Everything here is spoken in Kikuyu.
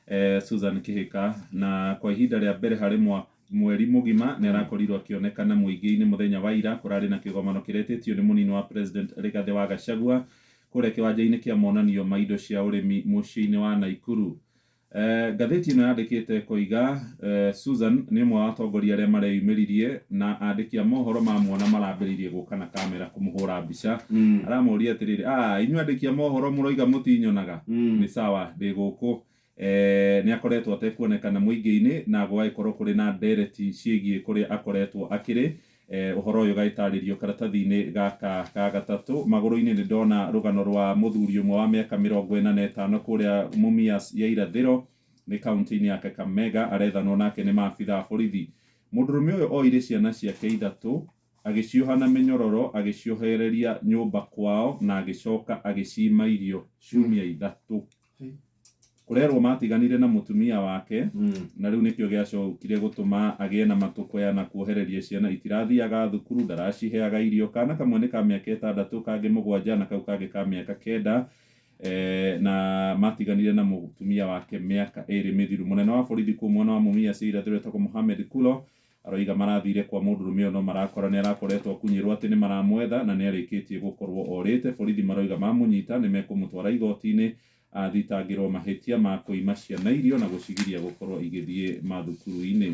eh, Susan Kihika na kwa ihinda rĩa mbere harĩ mwaka mweri mugima nä arakorirwo akĩonekana mũingĩ-inĩ mũthenya wa ira kũrarĩ na kĩgomano kĩretĩtio nĩ mũnini wa president Rigathĩ wa Gachagua kũrĩa kĩwanja-inĩ kĩa monanio ma indo cia ũrĩmi mũciĩ-inĩ wa Naikuru Eh, ngathĩti ĩno yandĩkĩte koiga eh, Susan nĩ ũmwe wa atongoria arĩa mareyumĩririe na andĩki a mohoro mamuona marambĩrĩirie gũka na kamera kũmũhũra mbica aramũria atĩrĩrĩ "Ah, inyuĩ andĩki a mohoro mũroiga mũtinyonaga nĩ sawa ndĩ gũkũ. Nĩ akoretwo atekuonekana mũingĩ-inĩ na gũgagĩkorwo kũrĩ na ndereti ciĩgiĩ kũrĩa akoretwo akĩrĩ, ũhoro ũyũ ũgagĩtarĩrio karatathi-inĩ gaka ga gatatũ. Magũrũ-inĩ nĩ ndona rũgano rwa mũthuri ũmwe wa mĩaka mĩrongo ĩna na ĩtano kũrĩa Mumias ya irathĩro, nĩ kauntĩ-inĩ ya Kakamega, arethanwo nake nĩ maabitha a borithi. Mũndũrũme ũyũ oire ciana ciake ithatũ Agĩcioha na mĩnyororo, agĩciohereria nyũmba kwao, na agĩcoka agĩciima irio ciumia ithatũ. Kũrerwo maatiganire na mũtumia wake, na rĩu nĩkĩo gĩacokire gũtũma agĩe na matũkũya na kuohereria ciana. Itirathiaga thukuru, ndaraciheaga irio. Kaana kamwe nĩ ka mĩaka ĩtandatũ, kangĩ mũgwanja, na kau kangĩ ka mĩaka kenda, na maatiganire na mũtumia wake mĩaka ĩĩrĩ mĩthiru. Mũnene wa borithi kũu mwena wa Mumias ya irathĩro etagwo Mohamed Kulo, Aroiga marathire kwa mũndũrũme ũyũ no marakora nĩarakoretwo akunyĩrwo atĩ nĩmaramwetha na nĩarĩkĩtie gũkorwo orĩte. Borithi maroiga mamũnyita nĩmekũmũtwara igooti-inĩ athitangĩrwo mahĩtia ma kũima ciana irio na gũcigiria gũkorwo igĩthiĩ mathukuru-inĩ.